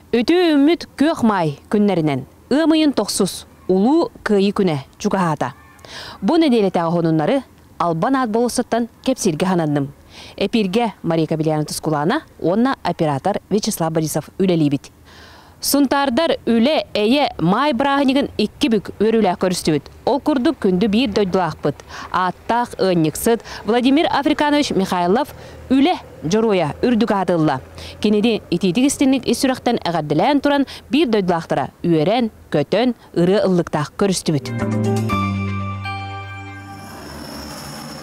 Үтүү үммүт күөх маай күннэринэн ыам ыйын тохсус улуу кыайыы күнэ чугаһаата. Бу нэдиэлэтээҕи хонуннары Албан аат болуоссаттан кэпсииргэ хананным. Эпирге Мария Кабельяна Тускулана уонна оператор Вячеслав Борисов үлэлиибит. Сунтаардар Үлэ, Эйэ, Маай бырааһынньыгын икки бүк үөрүүлээх көрүстүбүт. Ол курдук күндү биир дойдулаахпыт, ааттаах ыанньыксыт Владимир Африканович Михайлов Үлэ дьоруойа үрдүк аатылла. Кинини итиитик-истиҥник ис сүрэхтэн эҕэрдэлээн туран биир дойдулаахтара үөрэн, көтөн, ырыа ыллыктаах көрүстүбүт.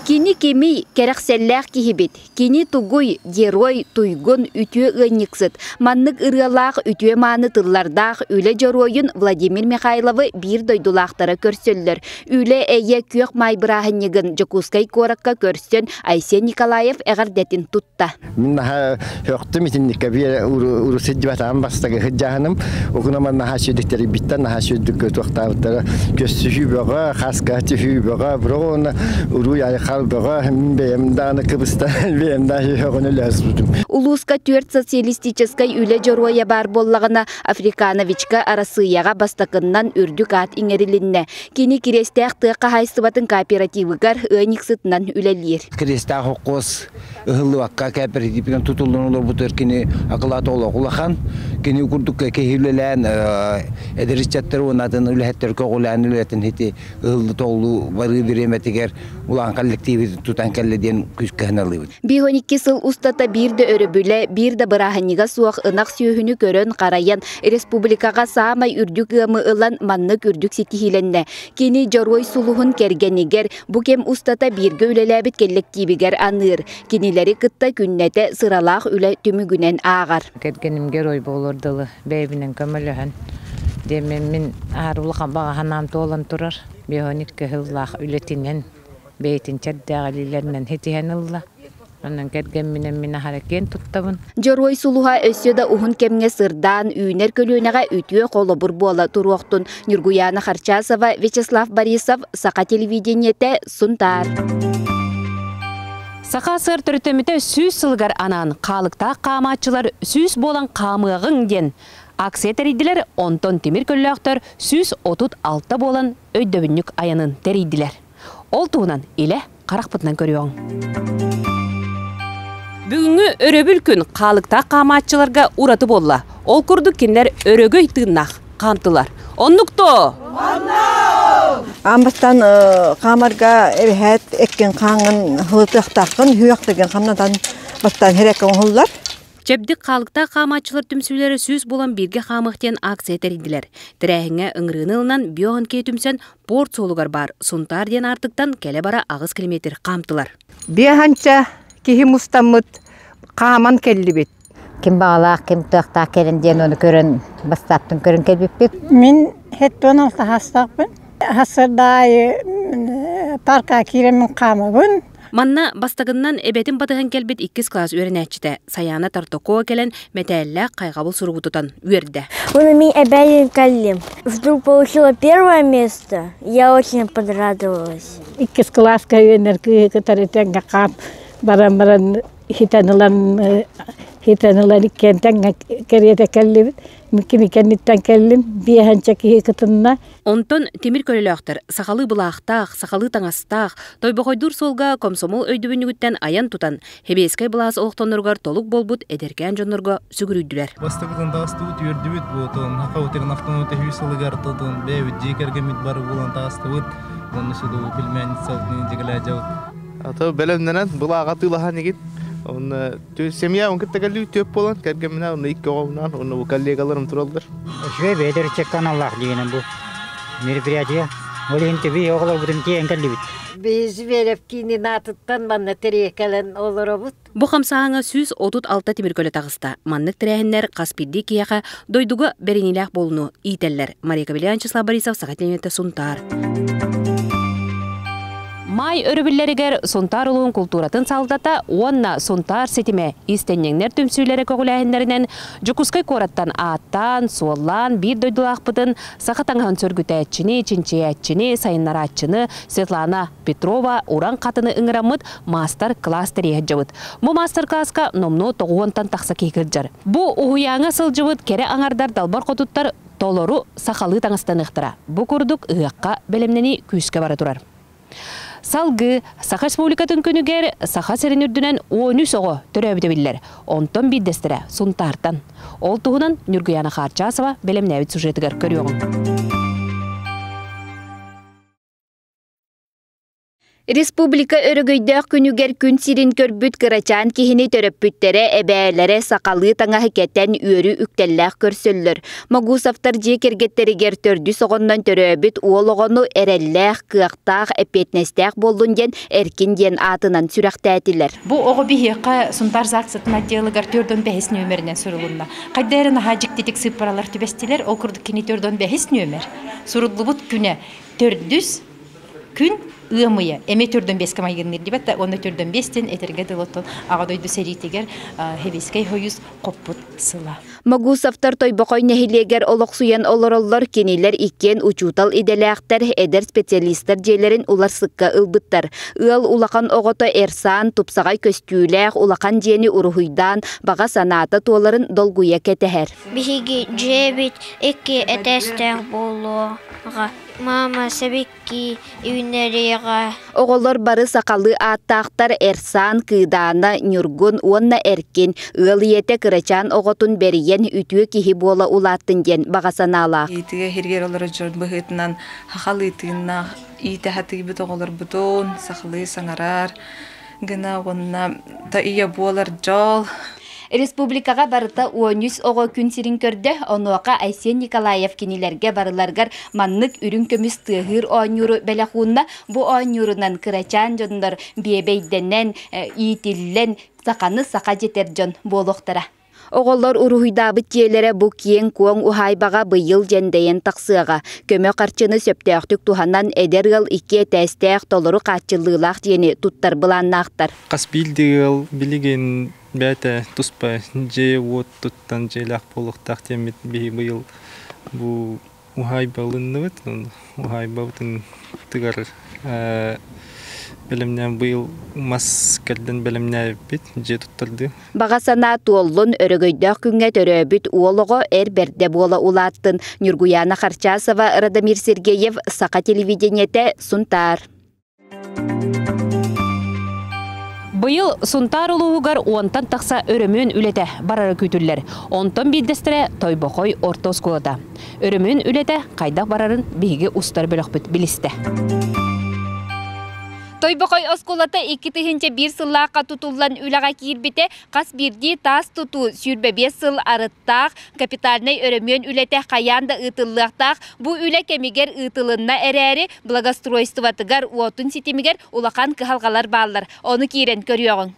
Кини кимий, кэрэхсэллээх киһибит. Кини тугуй, герой, туйгун, үтүө ыанньыксыт. Маннык ырыалаах, үтүө-мааны тыллардаах үлэ дьоруойун Владимир Михайловы биир дойдулаахтара көрсөллөр. Үлэ-эйэ күөх маай бырааһынньыгын Дьокуускай куоракка көрсөн Айсен Николаев эҕэрдэтин тутта. Мин наһаа хөхтүм итинникке биэ урусиддибатаан бастагы хыддьааһыным окунаман наһаа сүйдүктэрийбиттен наһаа сүйдүккө туохтаабыттара көссүһүү бөҕө хаска тиһүү бөҕө броона уруй айхал бөҕө мин бэйэм дааны кыбыста бэйэм даа хөҕүнү лөсбутум улууска төрт социалистическай үлэ дьоруойа баар боллаҕына африкановичка арасыйаҕа бастакыннан үрдүк аат иҥэрилиннэ кини кириэстээх тыа хаһайсыбатын кооперативыгар ыанньыксытынан үлэлиир кириэстээх хоккуос ыһыллыбакка кээпэритипинэн тутуллан олорбут кини акылаата олох улахан кини курдук киһилэлээн эдэриччэттэр уонатын үлэһиттэр көҕүлээн үлэтин хити ыһыллы толлуу барыы бириэмэтигэр улаан коллективи тутан кэллэ диэн күүскэһиналыыбыт биир он икки сыл устата биир да өрөбүлэ биир да бырааһынньыга суох ынах сүөһүнү көрөн харайан республикаҕа саамай үрдүк ыамы ылан маннык үрдүк ситиһиилэннэ кини дьоруой сулуһун кэргэнигэр Бу кэм устата бииргэ үлэлээбит кэллэктиибигэр аныыр. Кинилэри кытта күннэтэ сыралаах үлэ түмүгүнэн ааҕар. Кэргэнимгэр ой буолуор дылы бэйэбинэн көмөлөһөн диэммин аар улахан баҕаһанаан туолан турар механик кыһыллаах үлэтинэн бэйэтин чэрдээх илиилэринэн ситиһэн ылла Онон кэргэмминэн мин аһара киэн туттабын. Дьоруой сулуһа өссө да уһун кэмҥэ сырдаан, үүнэр көлүөнэҕэ үтүө холобур буола туруохтун. Ньургуяна Харчасова, Вячеслав Борисов, Саха телевидениетэ, Сунтаар. Саха сыр төрүтөмүтэ сүүс сылыгар анаан хаалыктаах хаамааччылар сүүс буолан хаамыаҕыҥ диэн акция тэрийдилэр, онтон тимир көллөөхтөр сүүс отут алта буолан өйдөбүнньүк айанын тэрийдилэр. Ол туһунан илэ харахпытынан көрүөҥ. Бүгүҥҥү өрөбүл күн хаалыктаах хаамааччыларга ураты буолла. Ол курдук кинилэр өрөгөй тыыннаах хаамтылар. Оннук тоо! Аан бастан хаамарга эбэһээт эккин хааңын хылытыахтааххын хүөхтеген хамнатан бастан херекке оҥоһуллар. Чэбдик хаалыктаах хаамааччылар түмсүүлэрэ сүүс булан бииргэ хаамыах диэн акция тэрийдилэр. Тэрээһиҥҥэ ыҥырыыны ылынан биоанкея түмсэн Порт суолугар баар Сунтаар диэн аартыктан кэлэ-бара аҕыс километр хаамтылар. Биэһанча киһи мустаммыт хааман кэллибит. Ким баҕалаах, ким туохтаах кэлин диэн оны көрөн, бастаптын көрөн кэлбиппит. Мин хеттон алтаһастахпын. Хасырдаайы парка кииремин хаамабын. Манна бастакыннан эбэтин батыһан кэлбит иккис класс үөрэнээччитэ Саяна Тартокова кэлэн мэтээллээх хайҕабыл суругу тутан үөрдэ. Мами опять калим. Вдруг получила первое место. Я очень понравилась. Иккис класска үөннэр кытары тэҥҥэ хаам баран баран хитэн ылан хитэн ылан иккиэн тэҥҥэ кэриэтэ кэллибит. кими кэнниттэн кэллим биэһэнчэ киһи кытынна онтон тимир көлөлөөхтөр сахалыы былаахтаах сахалыы таҥастаах тойбохойдуур суолга комсомол өйдөбүнньүгүттэн айан тутан хэбиэскэй былаас олохтонноругар толук буолбут эдэркээн дьоннорго сүгүрүйдүлэр бастакытын таҕыстыбыт үөрдүбүт буотун хахаутирин ахтыны тэһүү сылыгар тутун бэйэбит дьиэ кэргэммит бар булан таҕыстыбыт онно сыдуу пельменица дьигалаажабыт ата бэлэмнэнэн былааҕа тыылаһан игит онно Семья он кытта келли төп болон кэргемминэ онно икки оҕолунан онно бу коллегаларым тураллар. Үчүгэй бэйдэр каналлаах дегенем бу мероприятие. Ол иһин төбі оҕолорбутун киэн кэллибит. Біз Верев кининатыттан манна тириэкэлэн олоробут. Бу хамсааһыҥа сүүс отут алта тимиркөлө таҕыста. Маннык тирээһиннэр хас биирдии киһиэхэ дойдуга бэриниилээх буолуну иитэллэр. Мария Кавелянчеслав Борисов саха телевидениетэ Сунтаар. Май өрөбүллэригэр Сунтаар улуун култууратын салгата уонна Сунтаар ситимэ иистэнньэҥнэр түмсүүлэрэ көҕүлээһиннэринэн Дьокуускай куораттан ааттаан, суоллаан биир дойдулаахпытын саха таҥаһын сөргүтээччини, чинчийээччини, сайыннарааччыны Светлана Петрова уран хатыны ыҥыраммыт маастар-кылаас тэрийэ сылдьабыт. Бу маастар-кылааска номнуо тоҕуонтан тахса киһи кырдьар. Бу уһуйааҥҥа сылдьыбыт кэрэ аҥардар далбар хотуттар Толору сахалыы таҥастаныахтара. Бу курдук ыһыахха бэлэмнэнии күүскэ бара турар. Салгыы Саха Республикатын күнүгэр Саха сирин үрдүнэн он үс оҕо төрөөбүтэ биллэр, онтон биирдэстэрэ Сунтаартан. Ол туһунан Ньургуйаана Хаарчасова бэлэмнээбит сюжетыгар көрүөҕүҥ. Республика өрөгөйдөөх күнүгэр күн сирин көрбүт кырачаан киһини төрөппүттэрэ, эбээлэрэ сахалыы таҥаһы кэтэн үөрүү үктэллээх көрсөллөр. Могусовтар дьиэ кэргэттэригэр төрдүс оҕоннон төрөөбүт уол оҕону эрэллээх, кыахтаах, эппиэтинэстээх буоллун диэн Эркин диэн аатынан сүрэхтээтилэр. Бу оҕо биһиэхэ Сунтаар ЗАГСытын отделыгар төрт он бэһис нүөмэринэн сурулунна. Хайда эрэ наһаа дьиктитик сыыппаралар түбэстилэр, ол курдук кини төрт он бэһис нүөмэр суруллубут күнэ төрдүс Күн ыам ыйа эми төрдөн биэскэ майгынныыр дибэтэ уонна төрдөн биэстин этэргэ дылы оттон аҕа дойду сэриитигэр Хевийскэй хойус хоппут сыла. Магусовтар Тойбохой нэһилиэгэр олохсуйан олороллор, кинилэр иккиэн учуутал идэлээхтэр, эдэр специалистар дьиэлэрин уларсыкка ылбыттар. Ыал улахан оҕото Эрсаан тупсаҕай көстүүлээх улахан дьиэни уруһуйдаан, баҕа санаата туоларын долгуйа кэтэһэр. Биһиги дьиэбит икки этээстээх буолуоҕа. Мама, сэбикки үүннэриэҕэ Оҕолор бары сахалыы ааттаахтар Эрсаан, Кыыдаана, Ньургун уонна Эркин. Ыал ийэтэ кырачаан оҕотун бэрийэн үтүө киһи буола улааттын диэн баҕа санаалаах. Иитигэ иһиргиир олорор дьон быһыытынан сахалыы тыыннаах иитэ сатыыбыт оҕолорбутун сахалыы саҥарар, гына уонна да ийэ буолар дьол Республикаға барыта 13 оҕо күн сирин көрдө, онуоха Айсен Николаев кинилерге барыларгар маннык үрүн көмүс тыаһыыр оонньууру бэлэхуунна. Бу оонньуурунан кырачаан дьоннор биэбэйдэнэн, иитиллэн, саханы саха жетер дьон буолуохтара. Оҕолор уруһуйдаабыт дьиэлэрэ бу киэҥ-куоҥ уһаайбаҕа быйыл дьэндэйэн тахсыаҕа. Көмө харчыны сөптөөхтүк туһанан эдэр ыал икки этээстээх толору хааччыллыылаах дьиэни туттар былааннаахтар. Хас биирдии ыал билигин бэйэтэ туспа дьиэ-уот туттан дьиэлээх буолуохтаах диэммит быйыл бу уһаайбалынныбыт уһаайбабытын тыгар бэлэмнээн быйыл мас кэрдэн бэлэмнээбиппит дьиэ туттардыы Баҕа санаа туоллун, өрөгөйдөөх күҥҥэ төрөөбүт уол оҕо эр бэрдэ буола улааттын. Ньургуяна Харчасова, Радомир Сергеев, Саха телевидениете, Сунтаар. Быйыл Сунтаар улууһугар уонтан тахса өрөмүн үлэтэ барара күүтүллэр. Онтон биирдэстэрэ Тойбохой орто оскуолата. Өрөмүн үлэтэ хайдах барарын биһиги устар бөлөхпүт билистэ. Тойбохой оскуолата икки тыһыынча биир сыллаахха тутуллан үлэҕэ киирбитэ Хас биирдии таас тутуу сүүрбэ биэс сыл арыттаах капитальнай өрөмүөн үлэтэ хайаан да ыытыллыахтаах. Бу үлэ кэмигэр ыытылынна эрээри, благоустройствотыгар, уотун ситимигэр улахан кыһалҕалар бааллар. Ону киирэн көрүөҕүҥ.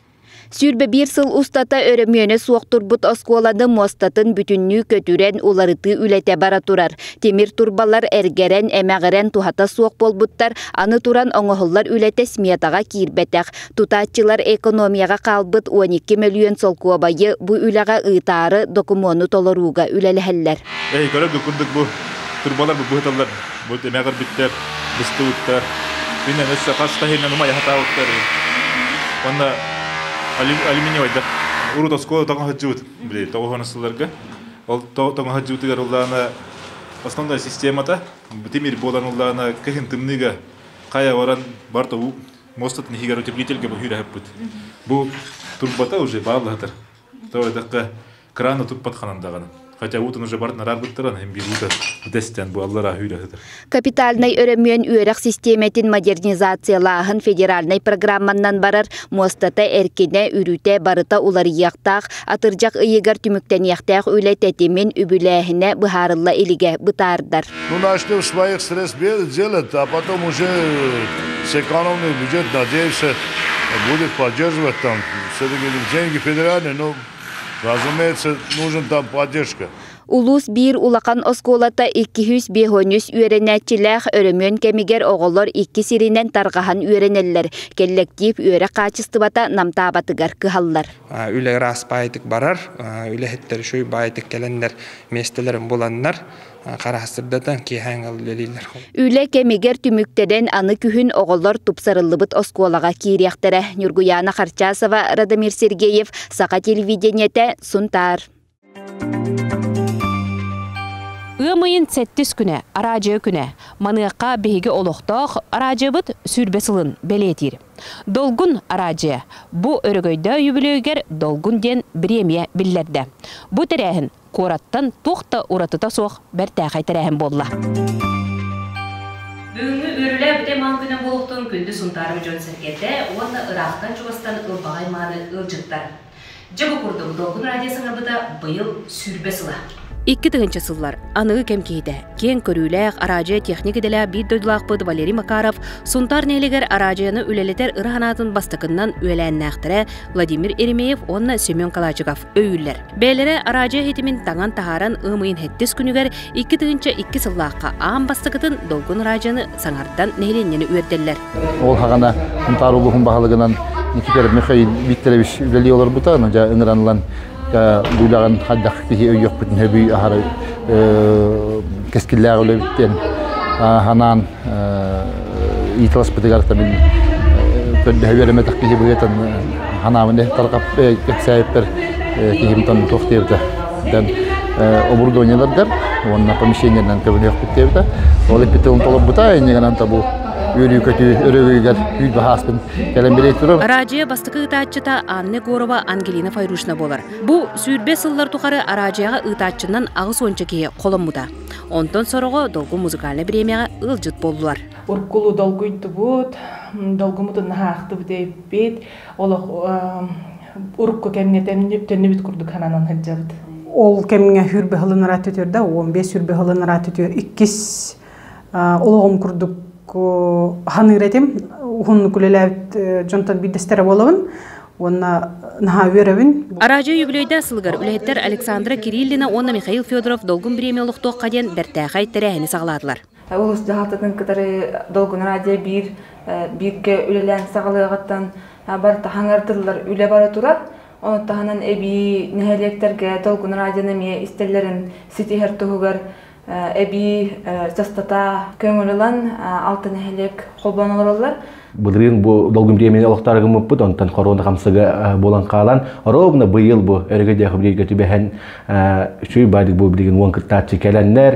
Сүүрбэ биир сыл устата өрөмүөнэ суох турбут оскуоланы муостатын бүтүннүү көтүрэн, уларытыы үлэтэ бара турар. Тимир турбалар эргэрэн, эмэҕирэн туһата суох буолбуттар, аны туран оҥоһуллар үлэтэ сметаҕа киирбэтэх. Тутааччылар экономияҕа хаалбыт 12 мөлүйүөн солкуобайы бу үлэҕэ ыытаары докумуону толорууга үлэлэһэллэр. Эй, көрөргүт курдук бу турбалар быһыталлар. Бу эмэ көрбүттэр, быстыбыттар. Иннен өссө хас таһынан умай хатаабыттар. Онна алюминиевайда урут оскуола тоҥо сылдьыбыт, били тоҕуһан астыларга. Ол тоҥо сылдьыбытыгар уллаана основная системата битимир буолан уллаана кыһын тымныыга хая баран бар тобу мостатын иһигэр утеплитель кэбиһиир аһыппыт. Бу турбата уже бааллаһытар. То эдакка крана туппат ханан даҕаны. Хотя уутун уже барытын араарбыттаран эм бириута дэстен бу аллар аһыыр аһытар. Капитальнай өрөмүөн үөрэх систиэмэтин модернизациялааһын федеральнай программаннан барар мостата эркинэ үрүтэ барыта уларыйыахтаах атырдьах ыйыгар түмүктэниэхтээх үлэ тэтимин үбүлээһинэ быһаарылла илигэ бытаардар. Ну, начали в своих средствах делать, а потом уже сэкономный бюджет, надеемся, будет поддерживать там все-таки деньги федеральные, но, разумеется, нужен там поддержка. Улуус биир улахан оскуолата иккиһүс биэһоньүс үөрэнээччилээх өрөмүөн кэмигэр оҕолор икки сиринэн тарҕаһан үөрэнэллэр. Кэллэктиип үөрэх хаачыстыбата намтаабатыгар кыһаллар. Үлэ ыраас баайтык барар, үлэһиттэр үчүй баайтык кэлэннэр миэстэлэрин буланнар, Харастырдатан киэһээҥэл үлэлиилэр. Үлэ кэмигэр түмүктэнэн аны күһүн оҕолор тупсарыллыбыт оскуолаҕа киириэхтэрэ. Ньургуяна Харчасова, Радомир Сергеев, Саха телевидениете, Сунтаар. Ыам ыйын сэттис күнэ, араадьыа күнэ. Маныаха биһиги олохтоох араадьыабыт сүүрбэ сылын бэлиэтиир. Долгун араадьыа. Бу өрөгөйдөөх үбүлүөйүгэр Долгун диэн бириэмийэ биллэрдэ. Бу тэрээһин куораттан туох да уратыта суох бэртээхэй тэрээһин буолла. Бүгүҥҥү үөрүүлээбит ый малгына буолуохтун күндү Сунтаарым дьон-сэргэтэ уонна ыраахтан-чугастан ылбаҕай-мааны ыалдьыттар! Дьэ бу курдук Долгун радио саҥарбыта быйыл сүүрбэ сыла. Икки тыһыынча сыллар аныгы кэм киһитэ, киэҥ көрүүлээх, араадьыйа тиэхиньик идэлээх биир дойдулаахпыт Валерий Макаров Сунтаар нэһилигэр араадьыйаны үлэлэтэр ыра санаатын бастакыннан үөлээннээхтэрэ Владимир Еремеев уонна Семен Калачиков өйүүллэр. Бэйэлэрэ араадьыйа иһитимин таҥан таһааран ымыйын хэттис күнүгэр икки тыһыынча икки сыллаахха аан бастакытын Долгун араадьыйаны саҥардан нэһилиэнньэни үөрдэллэр. Ол хаҕана Хунтаар улууһун баһылыгынан Никитер Михаил Викторович үлэлии олорбута, дьэ ыҥыранылан буулаҕын хайдах киһи өйүөхпүтүн сөбүй аһары кэскиллээх үлэбиттэн санаан ИТЛСПТыгар табин көрдөһө үөрэммэтэх киһи быйытан ханаабын тарҕап кэпсээйиппэр киһимтан туох диэбитэ дэн оборудованиеларгар уонна помещениерынан көбүнүөхпүт диэбитэ ол иппитылын толорбута иннигынан табу үөрүү-көтүү өрөгүйгэр күүл баһааскын кэлэн билей турар араадьыйа бастакы ыытааччыта Анна Егорова Ангелина Файрушина буолар бу сүүрбэ сыллар тухары араадьыйаҕа ыытааччынан аҕыс уонча киһи холоммута Онтон сороҕо долгу музыкальнай бириэмэҕэ ыалдьыт буоллулар. Уркулу долгуйдубут, долгумутун наһаахтыбыт эппит, олох урукку кэмҥэ төннүбүт курдук сананан сылдьабыт. Ол кэмҥэ хүрбэ хылынара түтүр да, он бес хүрбэ хылынара түтүр иккис олоҕум курдук ханыыр этим, уһуннук үлэлээбит дьонтон биирдэстэрэ буолабын. уонна наһаа үөрэбин араадьыйа юбилейдаа сылыгар үлэһиттэр александра кириллина уонна михаил федоров долгун бириэмэ олохтуохха диэн бэртээхэй тэрээһини саҕалаатылар улуус дьаһалтатын кытары долгун араадьыйа биир бииргэ үлэлээн саҕалыаҕыттан бары таһаҥардыллар үлэ бара турар Оны таһынан эбии нэһилиэктэргэ долгун радионы эмиэ истэллэрин ситиһэр туһугар эбии дьастата көҥүлүлэн алта нэһилиэк холбон олороллор былырыын бу долгум тиэмэни олохтоору гыммыппыт онтон корона хамсыга буолан хаалан оробна быйыл бу өрөгө диахабрига түбэһэн үчүй бадик бу билигин уон кыттааччы кэлэннэр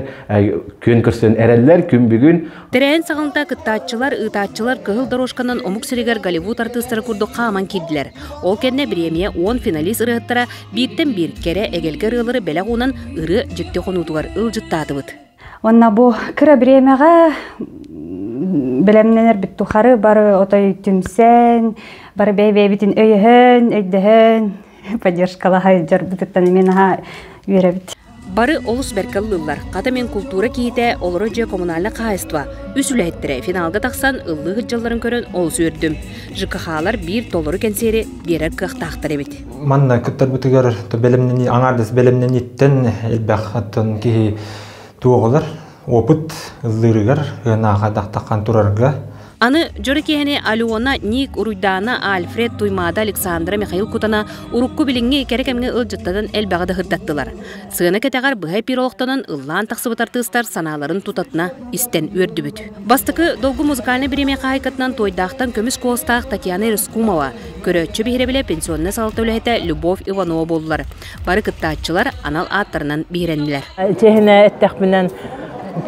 күн көрсөн эрэллэр күн бүгүн Тэрээһин саҕанта кыттааччылар ыытааччылар кыһыл дорожканан омук сиригэр Голливуд артыыстара курдук хааман киирдилэр ол кэннэ бириэмийэ уон финалист ырыһыттара Бииртэн биир кэрэ эгэлгэ ырыалары бэлэх уунан ырыа дьикти хонуутугар ылдьыттаатыбыт. Уонна бу кыра бириэмэҕэ бэлэмнэнэрбит тухары бары отой түмсэн, бары бэйбэйбитин өйөһөн, өйдөһөн, поддержкалаһа сылдьарбытыттан эмиэ наһаа үөрэбит. Бары олус бэркэ ыллыллар. Хата мин култуура киһитэ, олоро дьиэ коммунальнай хаһаайыстыба үс үлэһиттэрэ финалга тахсан ыллыы сылдьалларын көрөн олус үөрдүм. ЖКХ-лар биир толору кэнсиэри биэрэр кыахтаахтар эбит. Манна кыттарбытыгар бэлэмнэнии, аҥаардас бэлэмнэнииттэн элбэх киһи туоҕулар. Опыт ыллыырыгар ыанаха дахтаххан турарга Аны дьоро киһини Алена, Ник, Уруйдаана, Альфред, Туймаада, Александра, Михаил Кутана урукку билиҥҥи кэрэ кэмҥэ ыалдьыттарын элбэҕи да сырдаттылар. Сыана кэтэҕэр быһа эпир олохтонон ыллаан тахсыбыт артыыстар санааларын тутатына истэн үөрдүбүт. Бастакы долгу музыкальнай бириэмэ хаһаайкатынан Туойдаахтан көмүс куоластаах Татьяна Рыскумова, көрөөччү биһирэбилэ пенсионнай салалта үлэһитэ Любовь Иванова буоллар. Бары кыттааччылар анал ааттарынан биһирэннилэр. Чэһинэ эттэхпинэн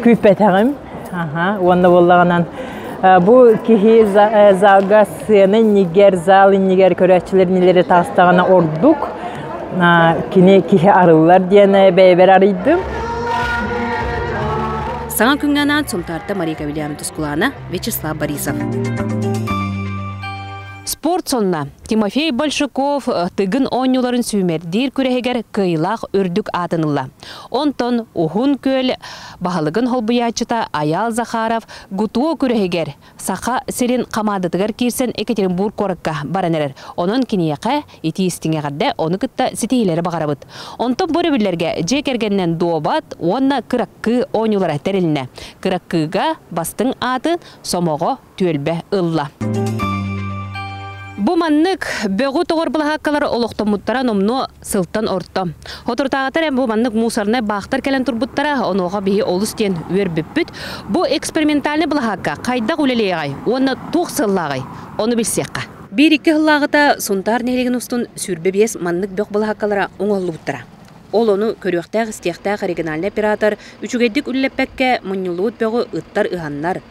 күүппэтэҕим уонна буоллаҕынан бу киһи залга сцена иннигэр зал иннигэр көрөөччүлэр нилери таастаҕына ордук кини киһи арыллар диэн бэйэбэр арыйдым саҥа күҥҥэ анаан сунтаарта мария кавильяна тускулаана вячеслав борисов спорт сонна Тимофей Большаков Тыгын оонньууларын сүүмэрдиир күрэһигэр кыайыылаах үрдүк аатын ылла. Онтон Уһун Күөл баһылыгын холбуйааччыта Айаал Захаров ГУТУО күрэһигэр Саха сирин хамаандатыгар киирсэн Екатеринбург куоракка баран эрэр. Онон киниэхэ итии-истиҥи эҕэрдэ, ону кытта ситиһиилэри баҕарабыт. Онтон бу өрөбүллэргэ дьиэ кэргэнинэн дуобат уонна кыраккыы оонньуулара тэрилиннэ. Кыраккыыга бастыҥ ааты, сомоҕо түөлбэ ылла. Бу маннык бөҕү тоҕор былаһааккалар олохтоммуттара номнуо сылтан орто. Оторутаатар эм бу маннык мусорнай баахтар кэлэн турбуттара онуоха биһи олус диэн үөрбүппүт. Бу экспериментальный былаһаакка хайдах үлэлиэҕэй уонна туох сыллааҕай? Ону билсиэххэ. Биир икки сыллааҕыта Сунтаар нэһилигин устун сүүрбэ биэс маннык бөх былаһааккалара оҥоһуллубуттара. Ол ону көрүөхтээх-истиэхтээх региональный оператор үчүгэйдик үлэлэппэккэ мунньуллубут бөҕү ыттар ыһаннар,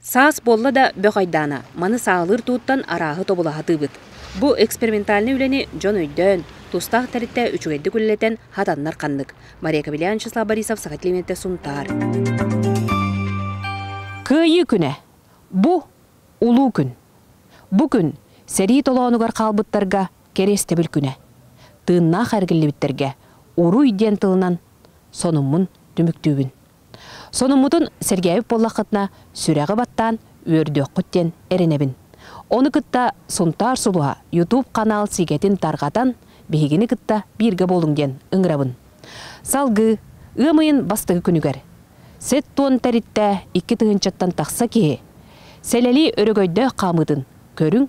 Саас буолла да бөх айдаана. Маны саалыыр тууттан арааһы тобулаһа атыыбыт. Бу экспериментальнай үлэни дьон өйдөөн, тустаах тэрилтэ үчүгэйдик үлэлэтэн хатаннар ханнык. Мария Кобелян, Вячеслав Борисов, Саха Климэтэ Сунтаар. Кыайыы күнэ. Бу улуу күн. Бу күн сэрии толоонугар хаалбыттарга кэриэстэбил күнэ. Тыыннаах эргиллибиттэргэ уруй диэн тылынан сонуммун түмүктүүбүн. Сонуммутун сэргээбит буоллаххытына, сүрэҕи баттаан үөрдүөххүт диэн эрэнэбин. Ону кытта Сунтаар сулуһа YouTube-ханаал сигэтин тарҕатан, биһигини кытта бииргэ буолуҥ диэн ыҥырабын. Салгыы, ыам ыйын бастакы күнүгэр, сэт туон тэрилтэ икки тыһыынчаттан тахса киһи Сэлэлии өрөгөйдөөх хаамыытын көрүҥ,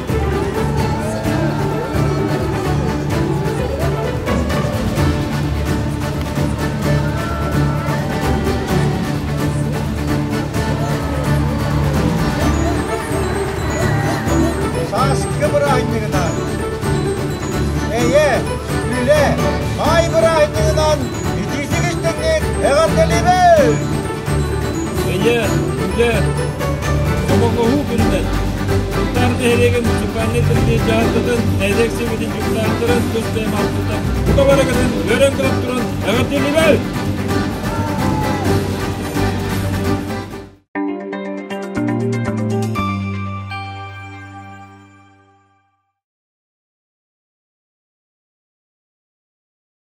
Сааскы бырааһынньыгынан Эйэ, Үлэ, Маай бырааһынньыгынан итиитигин түҥнүк эҕэрдэлиибин! Өлө, үлэ, Обоҕоһуу күнүнэн Тутар нэһилиэгин муниципальнай тэрилтэ дьаһалтатын нэһилиэк сэбиэтин дьокутааттарын көстөм алтыта тута барыгытын үөрэн көрөн туран эҕэрдэлибэл!